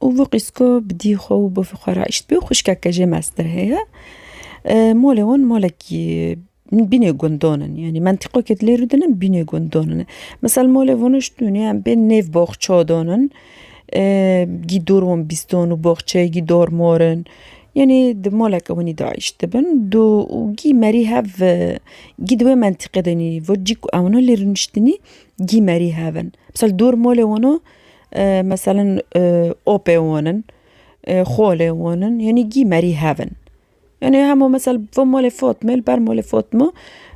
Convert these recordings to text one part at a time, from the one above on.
Û vî qîsko bi dî xwe û bavê xwe re eşt bî xwişkeke jê meztir heye. Molê wan molekî bînê gundan in yanî mentiqokê dilê rû dinin bînê gundan in. Misal molê wan eşt dûn yan bên nêv boxça dan in gî dor wan bîstan û boxçeyê gî dor mor in. Yanî di moleke winî de eşt dibin dû û gî merî hev gî di wê mentiqê de nî vur cî ku ewna lê rûniştinî gî merî hev in. Misal dor molê wan o Meselen opê wan in, xolê wan in yanî gî merî hev in. Yanî hemû mesel vê malê Fatmê li ber malê Fatma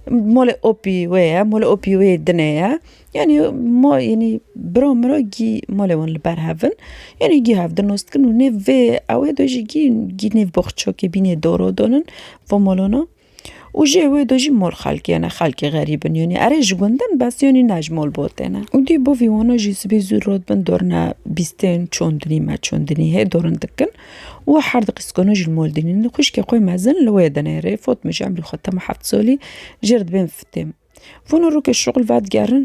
malê opî wê ye, malê opî wê yê dinê ye. Yanî ma yanî bira min re gî malê wan li ber hev in. Yanî gî hev din nas dikin û nêv vê ewê de jî gî nêv boxçakê bînê doro dan in va malana. Û jê wê do jî mol xelkê ne, xelkê xerîb in yonî erê ji gundin bes yonî ne ji mol botê ne. Û dî bo vî wano jî sibê zû rot bin dorine bîstên çondinî me çondinî hê dorin dikin û her di qîskano jî li mol dînin. Xwişkê xwe mezin li wê dinê rê fot min ji emrî xwe tema heft solî jê re dibêm fitêm. Vano rokê şixul vedigerin.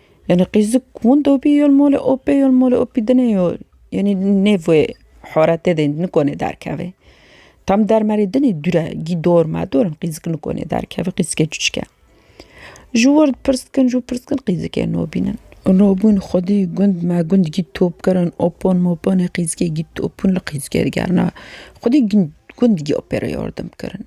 Yanî qîzik winda bî yo li malê opê yo li malê opî dinê yo yanî nê vê haretê de nikone derkeve. Tam dermerê dinê dure gî dor me dor in qîzik nikone derkeve qîzikê çiçik e. Ji wir pirs dikin ji wir pirs dikin qîzikê nabînin. Nabûn xwedî gund me gund gî top kirin opan mopanê qîzikê gî top bûn li qîzikê digerina xwedî gund gî opê re yardim kirin.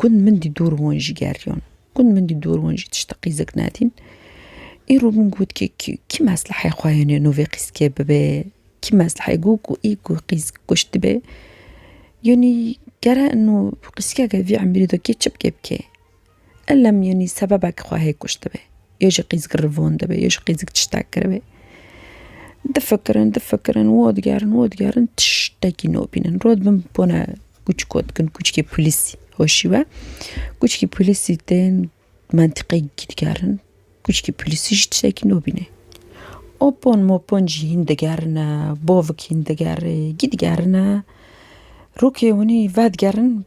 Gund min dî dûr hûn jî geriyon. Gund min dî dûr hûn jî tişta qîzik nedîn. Îro min got kî kî mesleheyê xwe hêne no vê qîzkê bibe. Kî mesleheyê got ku î ku qîzik kuşt be. Yanî gere no qîzkeke vî emrî de kê çi bike bike. Ellem yanî sebebek xwe hê kuştibê. Yê ji qîzik rivandibê, yê ji qîzik tiştek kiribê. Difikirin, difikirin, wo digerin, wo digerin, tiştekî nabînin. Rod bin bone kûçik got kin kûçikê polîsî hoşî we. Kûçikê polîsî tên mentiqeyî digerin. Kûçikê polîsî jî tiştekî nabînê. Opon mopon jî hîn digerine, bavik hîn digerê, gî digerine. Rokê winî vedigerin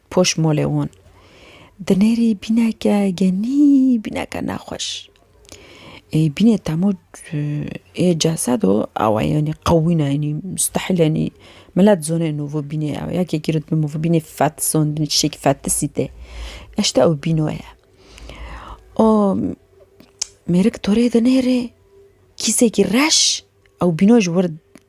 poş molê wan. Dinêrî bîneke genî bîneke nexweş. Ê bînê temo ê cesedo awa yenî qewî ne yenî mustehîl yenî milet zone no vê bînê ew yekê gîro dibî min vê bînê fet zon dibî tiştekî fetisî tê. Eşta ew bîno ye. O mêrik torê dinêrê kîsekî reş ew bîno ji wir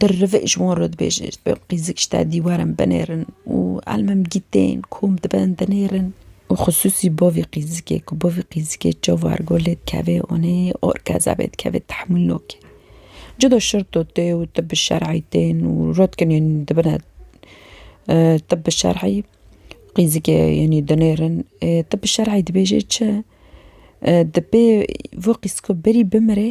Birrivê ji wan re dibêje ji ber qîzik ji te dîwaran binêrin û elmim gîtên kom diben dinêrin û xisûsî bavê qîzikê ku bavê qîzikê çavar got lê dikevê onê orkeza bê dikevê tehmûl nake. Cuda şirto tê û tibi şer'î tên û rotkinên dibine tibi şer'î qîzikê yanî dinêrin ê tibi şer'î dibêje çi? Di pê vê qîzika berî bimirê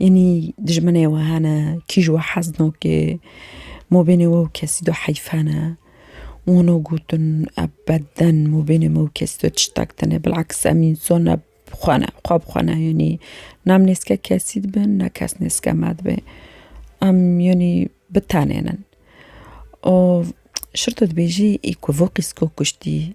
Yanî dijminê we hene, kîj we hez nake, mabênê we û kesî de heyf hene. Wano gotin ebeden mabênê me û kesî de tiştek tune. Bilaks em însan ne xwe ne, xwe bi xwe ne yanî ne em nêzike kesî dibin ne kes nêzike me dibe. Em yanî bi tenê ne. Şirto dibêjî î ku vokîsko kuştî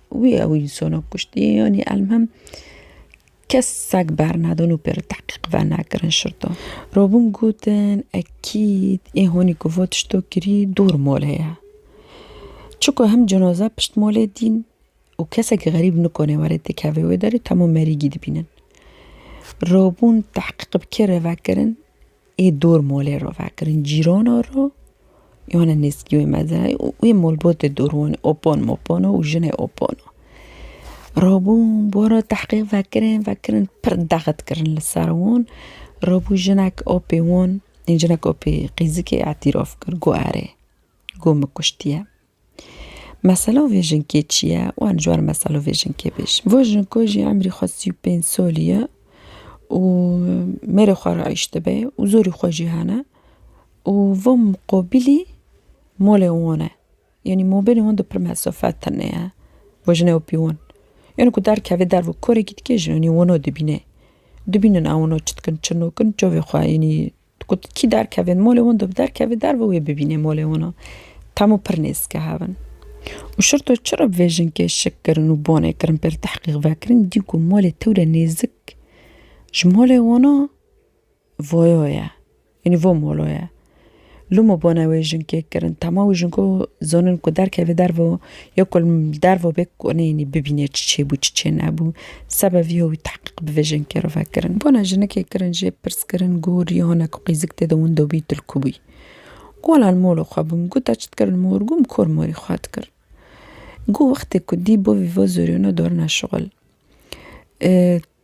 Wî ew însanan kuştiye yanî elmhem kesek bernedin û pê re tehqîq venekirin şirto. Robin gotin ekîd ê hanî ku va tişto kirî dûr malê ye. Çiko him cenaze pişt malê dîn û kesekî xerîb nikanê were têkeve wê derê temû merîgî dibînin. Robin tehqîq bi kê re vekirin? Ê dor molê ro vekirin cîrana ro wana nêzkî wê mezin û wê molbotê dor wanê opon mopon û jinê opon o. Rabûn bora tehqîq vekirin vekirin pir dexit kirin li ser wan rabû jinek apê wan ê jinek apê qîzikê îtîraf kir got erê got min kuştiye. Mesela vê jinkê çi ye? Wan ji wan mesela vê jinkê bêjin. Vo jinko jî emrî xwe sî û pênc solî ye û mêrê xwe re îş dibe û zorî xwe jî hene û vo muqobilî molê wan e. Yanî mobilê wan di pirme sofe tune ye. Vo jinê û pîwan. Yanî ku derkeve derve û korekî dike jî yanî wino dibîne. Dibînin ewano çi dikin, çi nakin, çavê xwe yanî Got, Kî derkevin molê win de bi derkevê der bi wê bibînê molê win a. Temo pir nêzike hev in. Û şirto çi re bi vê jinkê şik kirin û bonê kirin pê re tehqîq vekirin, dî ku molê tewre nêzik ji molê win a voyo ye. Yanî vo molo ye. Loma bona wê jinkê kirin. Tama wê jinko zonin ku derkevê der bi Yo ku li derve û bê ku neyênî bibîne çi çêbû çi çê nebû, sebe vî ho wî tehqîq bi vê jinkê re vekirin. Bona jinikê kirin jê pirskirin ku rî hona ku qîzik tê de windo bî tu li ku bûyî? Ku la li mola xwe bûm. Ku te çi dikir li mor? Ku min kor morî xwe dikir. Ku wextê ku dî bo vî vo zorî wina dorina şixul.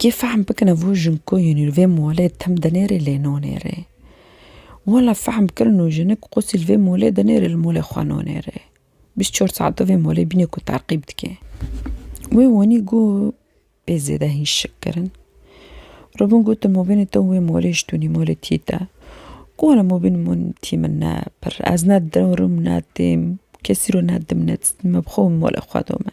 Kê fehm bikin ev û jin ku yînî li vê molê tim di nêrê lê no nêrê. Wala fehm bikin nû jinik qûsî li vê molê di nêrê li molê xwe no nêrê. Bîst çor saet di vê molê bînê ku terqîb dikê. Wê wanî ku bê zêde hîn şik kirin. Robin got di mobînê te û wê molê ji tûnî molê tî te. Ku wala mobîn min tî min ne pir. Ez ne dirim ne têm kesî ro ne didim ne dîstim me bi xwe û molê xwe dome.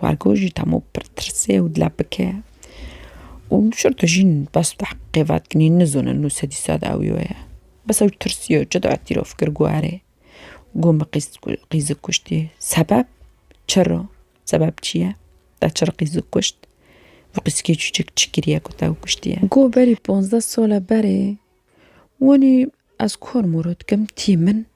Wargo jî tam û pir tirsê û dila bike û şir tu jîn bes tehqîqê vedikinî nizonin nû sedî sad ew yo ye. Bes ew tirsiyo çi dua tîrof kir guherê. Got min qîz qîzik kuştî. Sebeb? Çiro? Sebeb çi ye? Te çiro qîzik kuşt? Vî qîzikê çûçik çi kiriye ku te ew kuştiye? Got berî ponzdeh sala berê wanî ez kor mor dikim tî min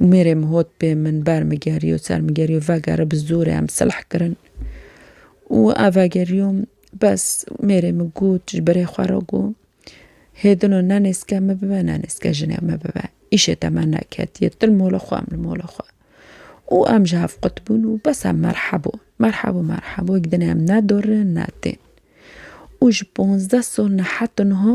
Mêrê min hot pê min bermigeriyo ser min geriyo vegere bi zorê em silh kirin û ev vegeriyo bes mêrê min got ji birê xwe re got hêdino ne nêzke min bibe ne nêzke jinê min bibe îşê te me neketiye tu li mola xwe em li mola xwe û em ji hev qutibûn û bes em merhebo merhebo merhebo wek dinê em ne dorin ne tên û ji ponzdeh sal ne heta niha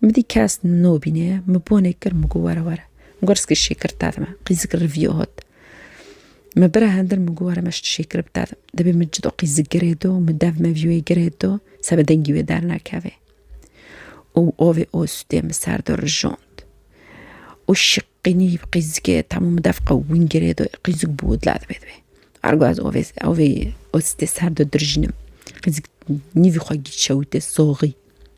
Min dî kes nobîne, min bonê kir, min got were were. Min got riskê şêkir te dime, qîzikir rivîyo hot. Min bira hindir min got were me şt şêkir bi te dim. Dibê min çi do qîzik girê do, min dev mevî wê girê do, sebe dengî wê dernakeve. û ovê ostê min ser do rijond. û şiqînî bi qîzikê temû min dev qewîn girê do, qîzik bû dila dibê dibê. Ergo ez ovê ovê ostê ser do dirjînim. Qîzik nîvî xwe gî çewitê soxî.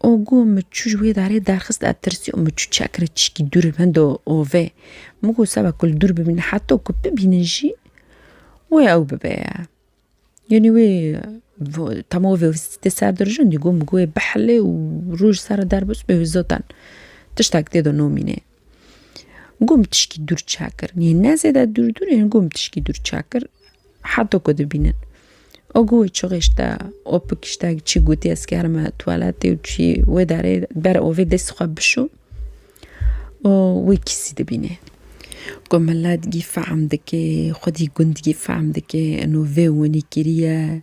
Ogo min çû ji wê darê derxist ez tirsî û min çû çekre çîkî dûr li benda ovê. Min got seba ku li dûr bimîne heta ku bibînin jî wê ew bibe ye. Yanî wê dema ovê tê ser dirijandî got min ku wê bihile û roj li ser re derbas û wê zaten tiştek tê de namîne. Gom tişkî dûr çakir yê ne zêde dûr dûr yên gom tişkî dûr çakir heta ku dibînin. O ku wê çixişte o pikişte çi gotî ez kerime tuwaletê û çi wê derê bere ovê dest xwe bişo û wê kîsî dibînê. Ku milet gî fehm dike xwedî gund gî fehm dike eno vê winî kiriye.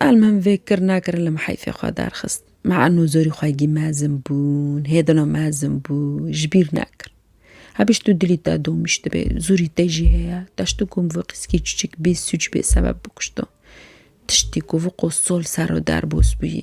Elmim vê kir nakirin li meheyfê xwe derxist. Me eno zorî xwe gî mezin bûn, hêdino mezin bû, ji bîr nekir. Hebî ji tu dilî te domîş dibe, zorî te jî heye, teşto ku min vê qîskî çûçik bê sûc bê sebeb bikuşto. Tiştî ku vê qo sol ser o derbos bûyî.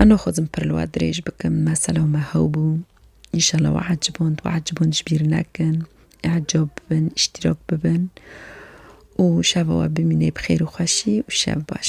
Eno xwezim pir li we dirêj bikim, me selaw me hew bû. Înşallah we eciband, we eciband ji bîr nekin. Ecab bibin, îştîrak bibin û şeva we bimîne bi xêr û xweşî û şev baş.